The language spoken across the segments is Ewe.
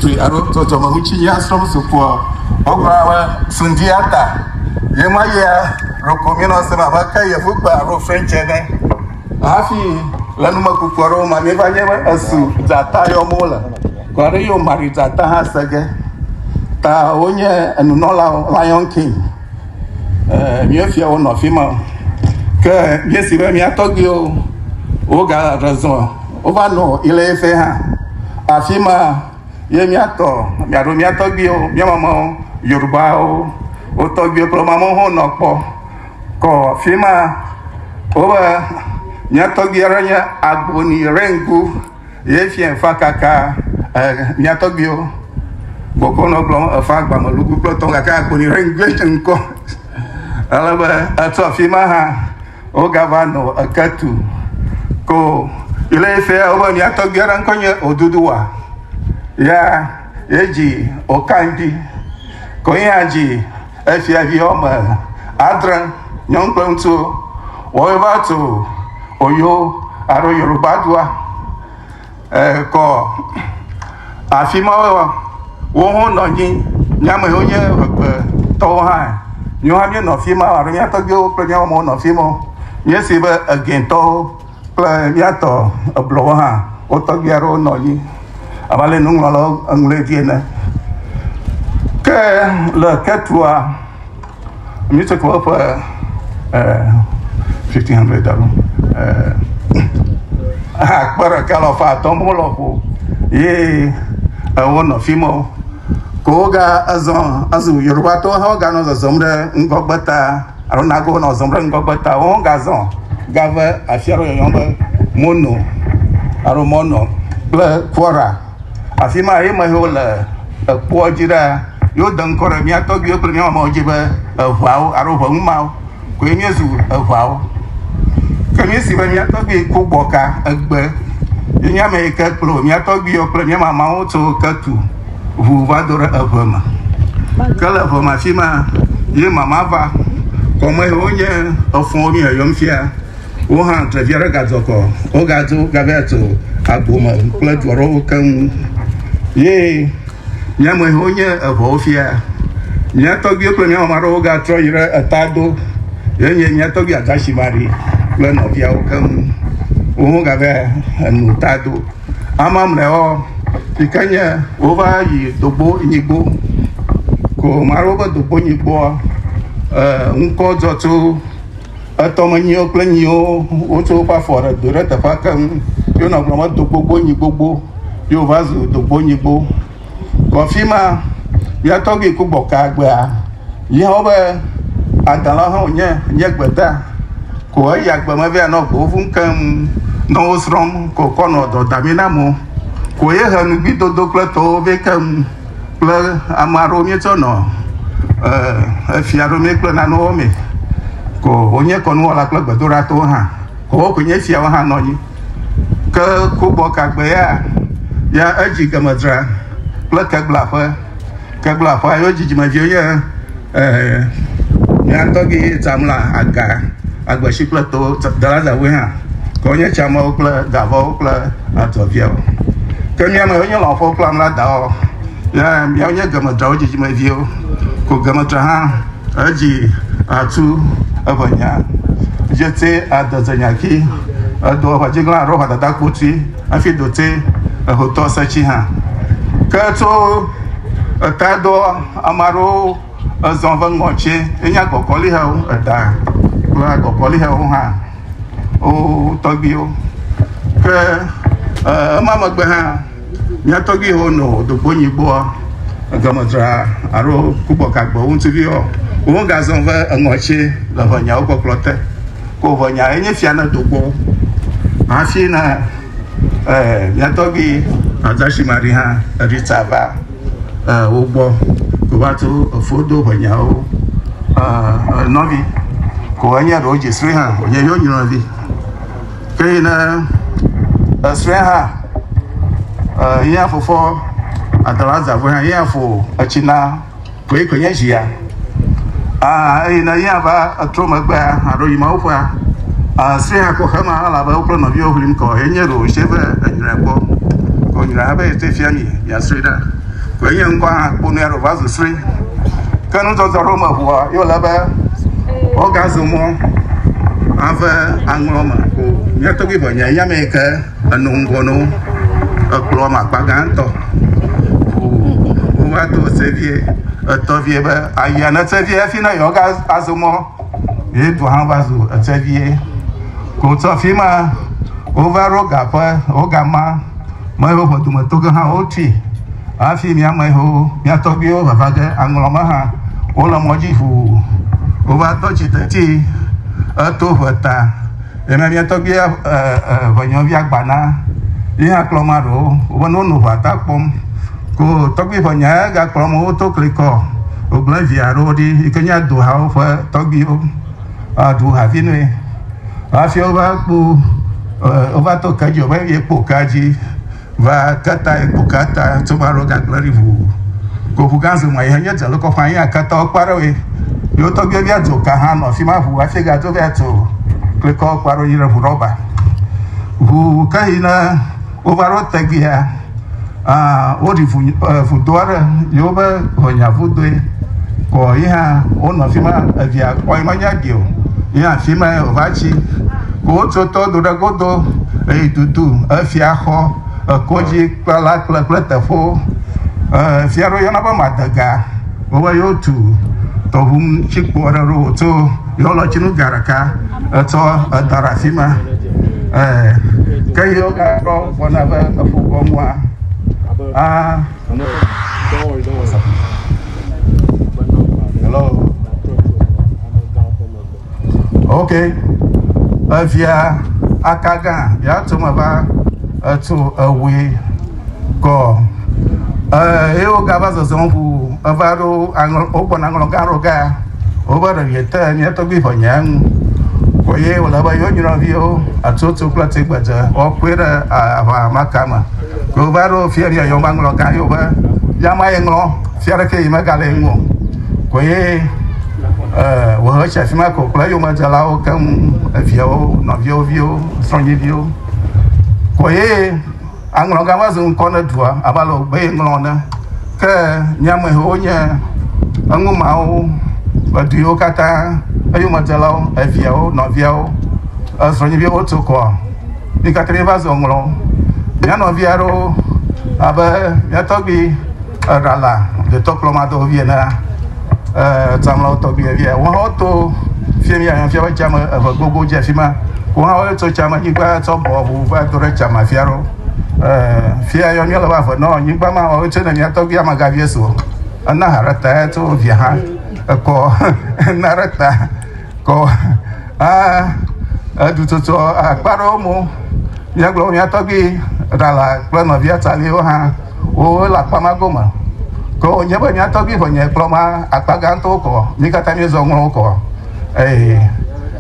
Tui alo dzɔdzɔmeŋutinya srɔm zu kpoa, wogblɔna be sundi ata. Ye ma yia loko mi nɔ sem abe ke yevugbe alo French ene. Hafi le numekuku aɖewo ma, mi va nye be esu dzata yɔm wole. Kɔ aɖe yio Mari dzata hã se ge. Ta wonye enunɔlawo, Lion King. Eh, mi fia wo nɔ fi ma. Ke mi si be mi atɔgbiwo, wo ga rezɔ. Wova nɔ Ilefe hã. Afi ma ye míatɔ, míaɖo mía tɔgbiwo, mía mamawo, Yorubawo, wo tɔgbiwo kple mamawo hã nɔ kpɔ. Kɔ afi ma wobe mía tɔgbi aɖe nye Agboni Rengu ye fia efa kaka eh, mía tɔgbiwo gbɔgbɔ nɔ gblɔm efa agbamelugu kple tɔ gake Agboni Rengu ye ŋkɔ. Ale be eto afi ma hã Wogava nɔ eke tu ko yele efe wobe mia tɔgbi aɖe ŋkɔ nye Oduduwa. Ya yedzi Okandi ko ya dzi efiavi wɔme adre nyɔnu kple ŋutsuwo. Wova tso Oyo alo Yoruba dua. eh, kɔ afi ma wo ho nɔ anyi nye amewo nye egbetɔwo hã míwo hã míenɔ afi ma alo mía tɔgbiwo kple mía mawo nɔ afi ma míesi be egɛtɔwo kple míatɔ eblɔwo hã wo tɔgbi aɖewo nɔ anyi abe ale nuŋlɔlawo eŋlɔe dzi ene ke le ketua míetsɔ kɔ eƒe fifteen hundred alo akpe ɖeka le ɔfa atɔ mo lɔ ƒo ye ewo nɔ fi mɔ ko woga ezɔ ezu yoruba tɔ hã woga nɔ zɔzɔm ɖe ŋgɔgbe ta alo nago nɔ zɔzɔm ɖe ŋgɔgbe ta wo ga zɔ gave afia ɖe yɔyɔ be mono alo mɔnɔ kple kɔra Afi ma ye me wole ekpoa dzi ɖaa. Yewo de ŋkɔ ɖe mía tɔgbuiwo kple mía mamewo dzi be eŋawo alo ŋeŋu mawo koe míezu eŋawo. Ke míesi be mía tɔgbui ku gbɔ ka egbe ye nye ame yi ke kplɔ mía tɔgbuiwo kple mía mamawo tso ketu ŋu va do ɖe eŋe me. Ke le eŋe me afi ma ye mama va. Kɔme ye wonye efɔwo mí yɔyɔm fia. Wo hã tre vi aɖe gadzɔ kɔ. Wogadzo gavea tso agbo me kple du aɖewo keŋ. Ye mía me hewo nye eŋɔwo fia. Mía tɔgbiwo kple mía mama aɖewo gatrɔ yi ɖe eta do. Ye nye mía tɔgbi Adashi Mari kple nɔviawo keŋ. Wo hã gava enu ta do. Amamleawo yi ke nye wova yi dogbo nyigbo. Ko mare wobe dogbo nyigboa, eh, ŋkɔ dzɔ tso Etɔmenyiwo kple nyiwo wotso woƒe afɔ ɖe do ɖe teƒea keŋ. Ye wonɔ gblɔm be do gbogbo nyi gbogbo. Ye wòva zu do gbogbo nyi gbogbo. Kɔ afi ma, mía tɔgbui ku gbɔ kaa gbea, yi hã be adã la hã wònye, nye gbeda. Ko eyi agbe me vea nɔ go vum keŋ nɔ wo srɔ̃m ko kɔ nɔ dɔ dami na amewo. Ko ye he nugbidodo kple tɔwo vɛ keŋ. kple ame aɖewo míetsɔ nɔ efia ɖo mí kple nanewo me ko wonye kɔnuwɔla kple gbedoɖatɔwo hã wowo ko nye fiawo hã nɔ anyi ke kubɔ kagbe ya ya edzi gemedzra kple keglaƒe keglaƒea yewo dzidzimeviwo nye Ɛɛ, mía tɔgbi ye tsam la aga agbeshi kple to dalazawoe hã, ke wonye tsamewo kple gavɔwo kple adzɔviawo. Ke mía me wonye lɔ̃xowo kple amladawo, ya mía wonye gemetrawo dzidzimeviwo, ko gemetra hã edzi atu eƒe nya. Jetse adeze nyaki, edo eƒe dziglã alo eƒe dada kpotui. Hafi do te ehotɔ setsi hã. Ke tso eta do ame aɖewo ezɔ ve ŋɔ tse enye agɔkɔli hewo eta kple agɔkɔli hewo hã wo tɔgbiwo. Ke ema megbe hã mía tɔgbi hewo no dogbo nyi gbɔa egɔme dzra alo kubɔ gagbewo ŋuti viɔ wo gazɔ ve eŋɔ tse le ʋe nyawo kpɔkplɔ te. ko vɔ nya enye fia ne do gbɔ hafi na eh, miatɔgbi azashi mari hã rita va eh, wo gbɔ ko va to efo do vɔ nyawo eh, nɔvi ko enye ɖewo dzi sri hã wònye yɔ nyɔvi ke yi ne esri hã eh, yín afofɔ adala zavɔ hã yín afo etsi na Koe koe nye zi ya. Aa, eye ne yea va etrɔ megbea, aɖo yi mawo ƒea, asrẽe akɔ xe ma, elabe wo kple nɔviawo ʋlim kɔ, eye nye ɖo wòse be enyrae kpɔ. Ko nyrae hã be ete fia mi, miasrɔe ɖa. Ko enye ŋkɔ hã kpo nui aɖo va zu srɔe. Ke nudɔdɔ ɖo meʋua, ye wòle be wogazu mɔ ave aŋlɔ me ko. Mía tɔgbuiʋe nye eyama yi ke. Eno ŋgɔ no wo. Ekplɔ me akpa gãtɔ. Wova to seviɛ. Etɔ viɛ be ayia ne seviɛ hafi ne yewo ga azo mɔ. Ye tɔ hã va zo eseviɛ. Ko tsɔ fi ma wova ɖo gaƒe wo gama. Me yewo ƒe dometɔ ge hã wotui. Hafi mía me yewo mía tɔgbuiwo vava ge aŋlɔ me hã wole mɔ dzi ŋu. Wova tɔ tsi teti eto ŋe ta. Eme mía tɔgbuia ŋɔnyɔvia gba na ye hã kplɔ ma ɖewo wobe ne wonɔ ŋua ta kpɔm ko tɔgbui ŋɔnya ya gakplɔ mo woto klikɔ wogblẽ via aɖewo ɖi yi ke nye aduhawo ƒe tɔgbuiwo aɖu havi nɛ hafi wova kpo wova to ke dzi o be ye kpo kea dzi Va kata ye kpo kata tso ma ro gagble ri vu. Ko vu gan zuma ye nye jalo ko fan ye akata o kparo ye. Yo to gbe via jo ka han no fi ma vu afi ga jo via to. Kle ko kparo yi re vu roba. Vu ka yi na o va ro te gbe a. Ah, o ri vu vu do are yo be ho nya vu do ye. Ko yi ha o no fi ma via ko yi ma nya gbe o. Yi ha fi ma o va chi. Wotso to do ɖe godo eyi tutu efiaxɔ, ekodzikpɔla kple kple teƒewo. Efia ɖewo yɔna be madega. Wobe yewotu tɔʋu ŋuti kpɔ ɖe ɖo wotso yɔlɔtsinu ga ɖeka etsɔ edɔ ɖe afi ma. Ke yi wogatrɔ gbɔna be eƒu gɔmua. Ah. Hello. ok evia akaga yàtò me va etu ewui kɔ eye wogava zɔzɔm ʋu eva ɖo aŋlɔ wogbɔna aŋlɔ gã aɖewo ga wobe ɖevie te nye tɔgbi ʋe nye ŋu eye wòle be yewo nyɔnuviwo atutu kple tigbedze woakpɔe ɖe aʋa ma tame wova ɖo fiaɖia yewo maŋlɔ gã yewo be yama ye ŋlɔ Fia ɖekee yi megale eŋu o ko ye wòhe etsi afi ma ko kple eyomedzelawo keŋ, eviawo, nɔviawo viwo, srɔ̃nyeviwo ko ye aŋlɔgã va zu ŋkɔ ne dua abe ale wògbe ye ŋlɔ ne. Ke miamehewo nye eŋu mawo ƒe du yiwo katã eyomedzelawo, eviawo, nɔviawo, srɔ̃nyeviwo woto kɔa, mi katã miva zu ŋlɔ. Mia nɔvi aɖewo abe mia tɔgbui Eɖala detɔ kplɔmadɔ vie na tsamlawo tɔgbuiɛ vie. Wo hã woto fie mi ayan fia be tsame eve gogo dze fi ma. Wo hã wo tso tsame nyigba tsɔ bɔ ʋu va do ɖe tsama fia ɖo. Fia yɔ mi le va ve nɔ nyigba ma wo tso ne mi atɔgbi amaga vie so. Ena harata ya to via ha. Ekɔ ena harata kɔ a edu tsotso akpa ɖewo mo. Mia gblɔ mia tɔgbi ɖala kple nɔvia tsaliwo hã. wo le akpa ma gome. Ke wònye be mía tɔgbui ƒe nya kplɔ ma akpa gãtɔwo kɔ, mí katã míezɔ ŋlɔ wo kɔ. Eye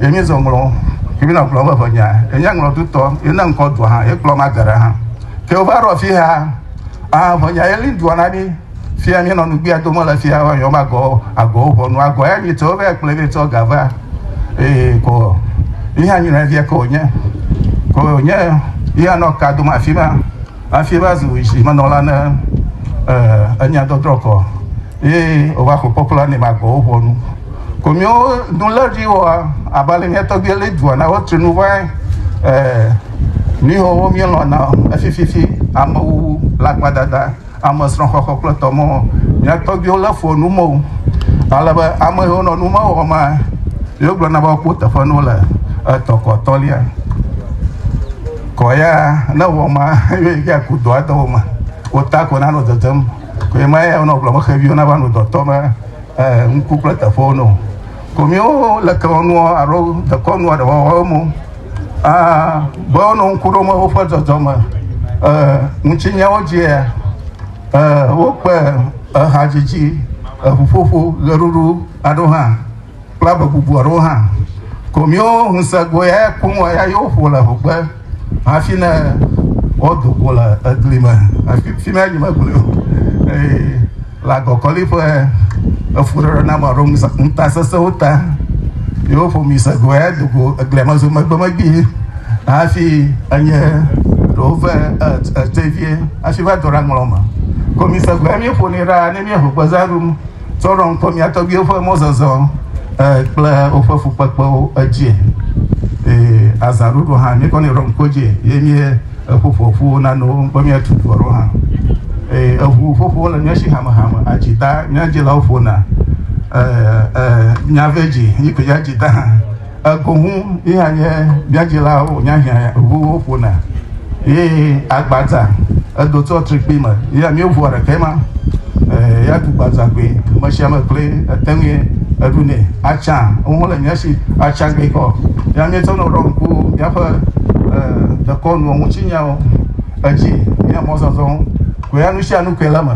ye míezɔ ŋlɔ ke mí nɔ kplɔ ƒe ƒe nya. Ye nye ŋlɔ dutɔ, ye ne ŋkɔ dua hã, ye kplɔ ma geɖe hã. Ke wova ɖo afi ha, ah, ƒe nya ye li dua na mí. Fia míenɔ nugbea dome le fia wa yɔm agɔ, agɔwo ʋɔnu, agɔ ya nyi tsɔ vɛ kple vɛ tsɔ ga va. Eye ko, yi hã nyi nɔvia ke wònye. Ko wònye, yi hã nɔ ka dome afi ma. Afie va zu zi me nɔla ne enya dɔdrɔ kɔ ye ova xɔ kpɔkplɔ ne ma gbɔwo ʋɔ nu. Ko mi wo nu le ri wɔ aba le mi tɔgbi le dua na wo tri nu va mi ho wo mi lɔ na efi fi fi ame wu la kpa dada ame srɔ xɔ xɔ kple tɔmɔ mi tɔgbi wo le fo nu mo. Ale be ame yo nɔ nu ma wɔ ma yo gblɔ na ba ko tefenu le etɔkɔ tɔlia. Kɔ ya ne wɔ ma yɔ yi ya ku dɔa dɔwɔ ma o ta ko na no dɔdɔm ko yi ma ya no bla mo xevi ona ba no dɔtɔ ma eh nku kple tafo no ko mi o le ke no aro de ko no de wɔ mo ah bo no nku do ma o fa dɔdɔ ma eh nchi nya o je eh o pe eh ha jiji eh fofo le ruru ado ha kple ame bubu aɖewo hã. Ko míwo ŋusẽgoe ya kum wɔ ya yewo ƒo le hogbe hafi ne wodo go le egli me. Afi fi ma nyime gblẽ o. Ee, le agɔkɔli ƒe efuɖeɖe na ame aɖewo ŋusẽ- ŋutasesẽwo ta, yewo ƒo mi se go ya do go eglia me zo megbe megbee hafi enye ɖewo ve et- etevie hafi va do ɖe aŋlɔ me. Ko mi se go ya míeƒonɛ ɖaa ne míeho gbezã ɖum. tsɔ ɖɔ ŋkɔ mía tɔgbuiwo ƒe mɔzɔzɔ kple woƒe fukpekpewo edzie. Eye azãɖuɖu hã míekɔnɛ ɖɔ ŋkɔ dzie ye mie eƒoƒo ƒuwo nane wo ŋkɔ míatu du aɖewo hã. Eye eŋu ƒoƒowo le mía si hamehame adzida mía dzilawo ƒona nya vɛ dzi yi ke ya dzida hã. Egoŋu yea nye biadzilawo nya hiã ŋu woƒona ye agbadza edo tsɔ trikpi me ye mi ŋua ɖekɛ ma ya tu gbadza gbe me sia me kple ete ŋu eɖu ne atsa wo le nya si atsa gbe kɔ ya mi tsɔ no ɖɔ ŋku ya ƒe dekɔnu ŋuti nyawo edzi ya mɔzɔzɔ ko ya nu sia nu ke le me